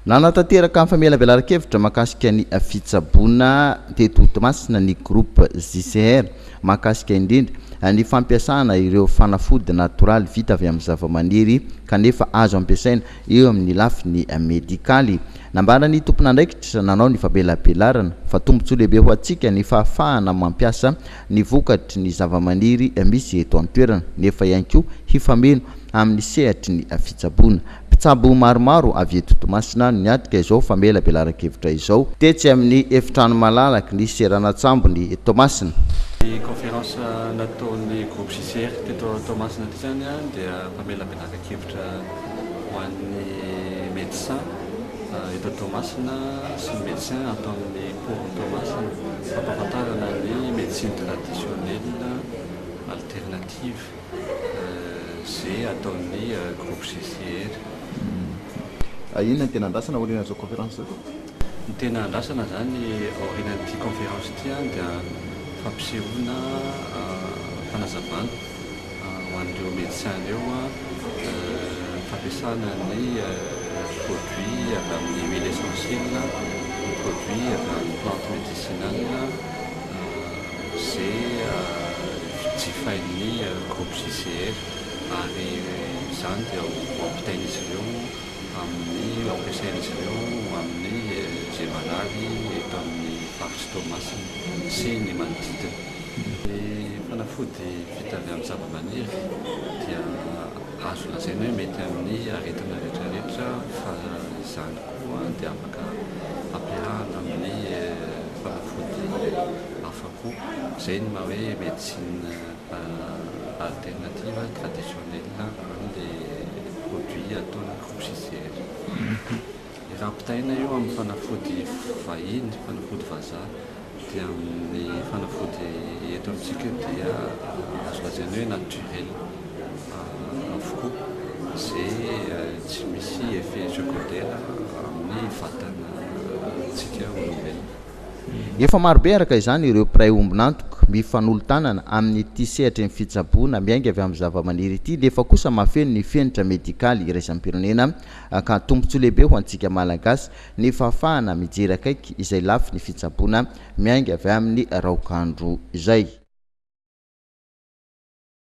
Nanatanteraka ny famelavelaran-kevitra mahakasika ny fitsaboana teto Toamasina ny groupe JCR mahakasika indrindra ny fampiasana ireo fanafody natoraly vita avy amin'ny zavamaniry kanefa azo ampiasaina eo amin'ny lafiny medikaly. Nambaran'ny tompon'andraikitra nanao ny famelabelarana fa tombontsoa lehibe ho antsika ny fahafahana mampiasa ny vokatry ny zavamaniry misy eto an-toerana, nefa ihany koa hifameno amin'ny sehatry ny fitsaboana. Mpitsabo maromaro avy eto Toamasina no niatrika izao famelabelaran-kevitra izao, tetsy amin'ny efitrano malalaky ny seranan-tsambon'i Toamasina. Ny conférence nataon'ny groupe JCR teto Toamasina teto ihany dia famelabelaran-kevitra. Traikevitrra ho an'ny Médecins eto Toamasina sy ny Médecins ato amin'ny Pôrn Toamasina hampahafantarana ny Médecine Traditionnelle Alternative ze ataon'ny Groupe GCR. Inona ny tena andrasana aorian'izao Conférence izao? Ny tena andrasana izany aorianan'ity conférence ity dia fampisehoana fanazavana ho an'ireo médecins ireo ny fampiasana ny produits avy amin'ny huile essentielle, ny produits avy amin'ny plantes médicinales izay jifain'ny groupe JCR ary izany dia ho ampitain'izy ireo. amin'ny ampiasain'izy ireo ho amin'ny izay marary eto amin'ny faritry Toamasina sy ny manodidina. Ny fanafody vita avy amin'ny zavamaniry dia azo lazaina hoe mety amin'ny aretina rehetra rehetra fa izany koa dia afaka ampiarahana amin'ny fanafody hafa koa. Izay ny maha hoe médecine Alternative traditionnelle an le produit ataony crocisière. Rapitaina io amin'ny fanafody vahiny, fanafody vazaha, dia amin'ny fanafody eto amintsika dia azo lazaina hoe naturel avokoa ze tsy misy effet secondaire amin'ny vatantsika olombelona. Efa marobe araka izany ireo mpiray ombon'antoka mifanolo-tanana amin'ity sehatry ny fitsaboana miainga avy amin'ny zavamaniry ity nefa kosa mahafeno ny fenitra medikaly iraisam-pirenena ka tombontsoa lehibe ho antsika Malagasy ny fahafahana mijery akaiky izay lafiny fitsaboana miainga avy amin'ny raokandro izay.